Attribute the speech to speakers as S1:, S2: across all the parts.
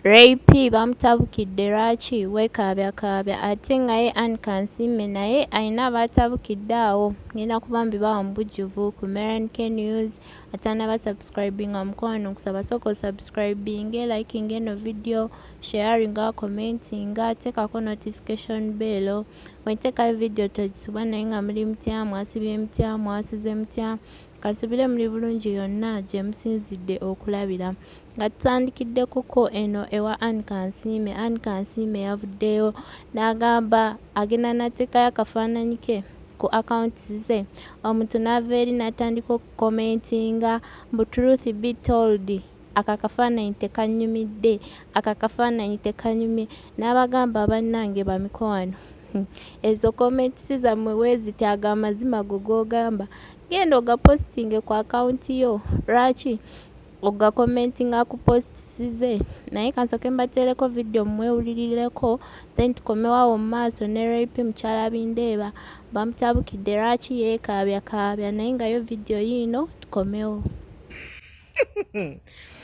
S1: Ray Phee bamutabukidde lwaki wekaabyaakaabya ate nga ye Anne Kansiime naye alina baatabukidde awo ngenda kuba mbibawa mu bujjuvu ku MRNK News atanaba subscribinga mukwano nkusaba sooka osubscribinge, likinge eno video, sharinga, commentinga, teekako notification bell bwenteekayo video togisubwa naye nga muli mutya mwasibye mutya mwasuze mutya kasubire muli bulungi yonna gye musinzidde okulabira Nga tutandikiddekoko eno ewa Ann Kansiime, Ann Kansiime yavuddeyo n'agamba agenda n'ateekayo akafaananyi ke ku accounts ze omuntu n'ava eri n'atandika okukomentinga mbu truth be told ako akafaananyi tekanyumidde ako akafaananyi tekanyumye n'abagamba bannange bamikwano ezo comments zammwe weeziti ago amazima go g'ogamba genda ogapositinge ku akawunti yo lwaki Oga commentinga ku posts ze naye kansoke mbatereko video mwewulirireko then tukomewo awo mu maaso ne RIP mukyala Bindeeba bamutabukidde lwaki yeekaabya kaabya naye nga yo video yiino tukomewo.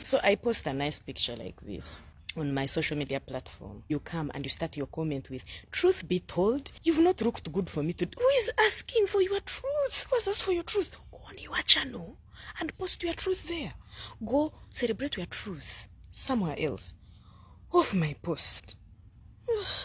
S2: So I post a nice picture like this. on my social media platform, you come and you start your comment with, Truth be told, you've not looked good for me today. Who is asking for your truth? Who has asked for your truth on your channel? and post your truth there go celebrate your truth somewhere else off my post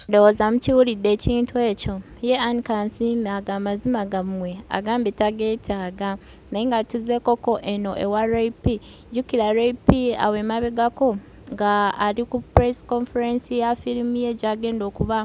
S1: ndowooza mukiwulidde ekintu ekyo ye an kansiime aga amazima gammwe agambye tageetaaga naye nga tuzeekoko eno ewa rap jjukira rap awo emabegako nga ali ku press conference ya firimu ye gyagenda okuba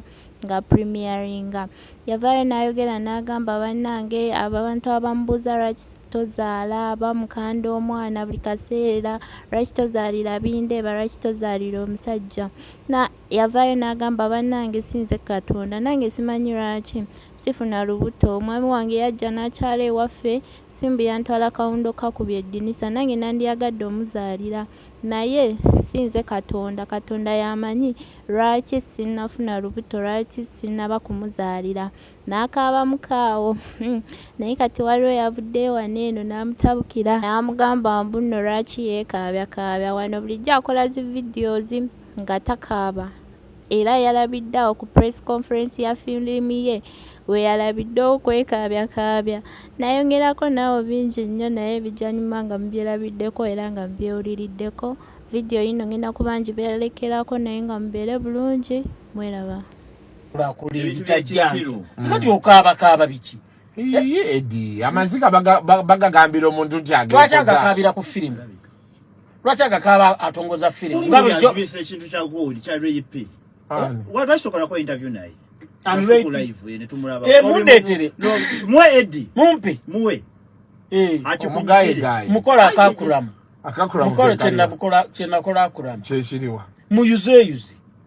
S1: nga premieringa yavaayo n'ayogera n'agamba bannange abantu abamubuuza lwaki tozaala bamukanda omwana buli kaseera lwaki tozaalira bindeeba lwaki tozaalira omusajja na yavaayo n'agamba bannange sinze katonda nange simanyi lwaki sifuna lubuto omwami wange yajja n'akyala ewaffe simbu yantwala kawundo kakubye eddinisa nange nandiyagadde omuzaalira naye sinze katonda katonda yamanyi lwaki sinafuna lubuto lwaki sinaba kumuzaalira N'akaabamu kaawo. Naye kati waliwo eyavuddeyo wano eno n'amutabukira n'amugamba mbu nno lwaki yeekaabyakaabya wano bulijjo akola zi videos nga takaaba era yalabidde awo ku press conference ya filimu ye we yalabidde okwekaabyakaabya nayongerako naawo bingi nnyo naye bijanyuma nga mubyerabiddeko era nga mubyewuliriddeko vidiyo yino ngenda kuba ngibeerekerako naye nga mubeere bulungi mweraba bakuli ebitajansa
S3: mm. kati okaaba kaaba biki edi
S4: amaziga bagagambira omuntu nti lwaki agakaabira ku
S3: firimu lwaki agakaaba atongoza firimu nga bulijjo ekintu kya
S5: gold kya rp lwakitokola ko interview naye
S3: emundeetere muwe edi
S5: mumpe muwe eh. akikumugayegaye
S3: mukola akakuramu mukola kyenakola akuramu kyekiriwa
S4: muyuzeeyuze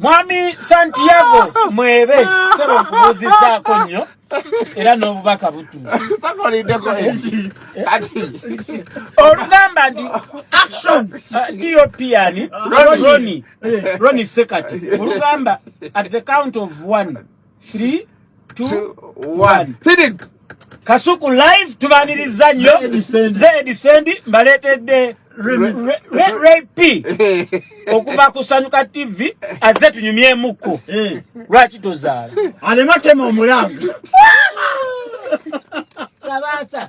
S3: Mwami Santiago mwebe sebo kubuzizaako nnyo era n'obubaka butuusakolideko kati olugamba nti action diopian uh, roni roni sekati olugamba at the count of one 3 2 1 hidden kasuku live tubaniriza nnyo zedi sendi mbaleetedde rap okuva ku sanyuka tv azze tunyumyemuko eh. lwaki tozaala alema tema
S5: omulanga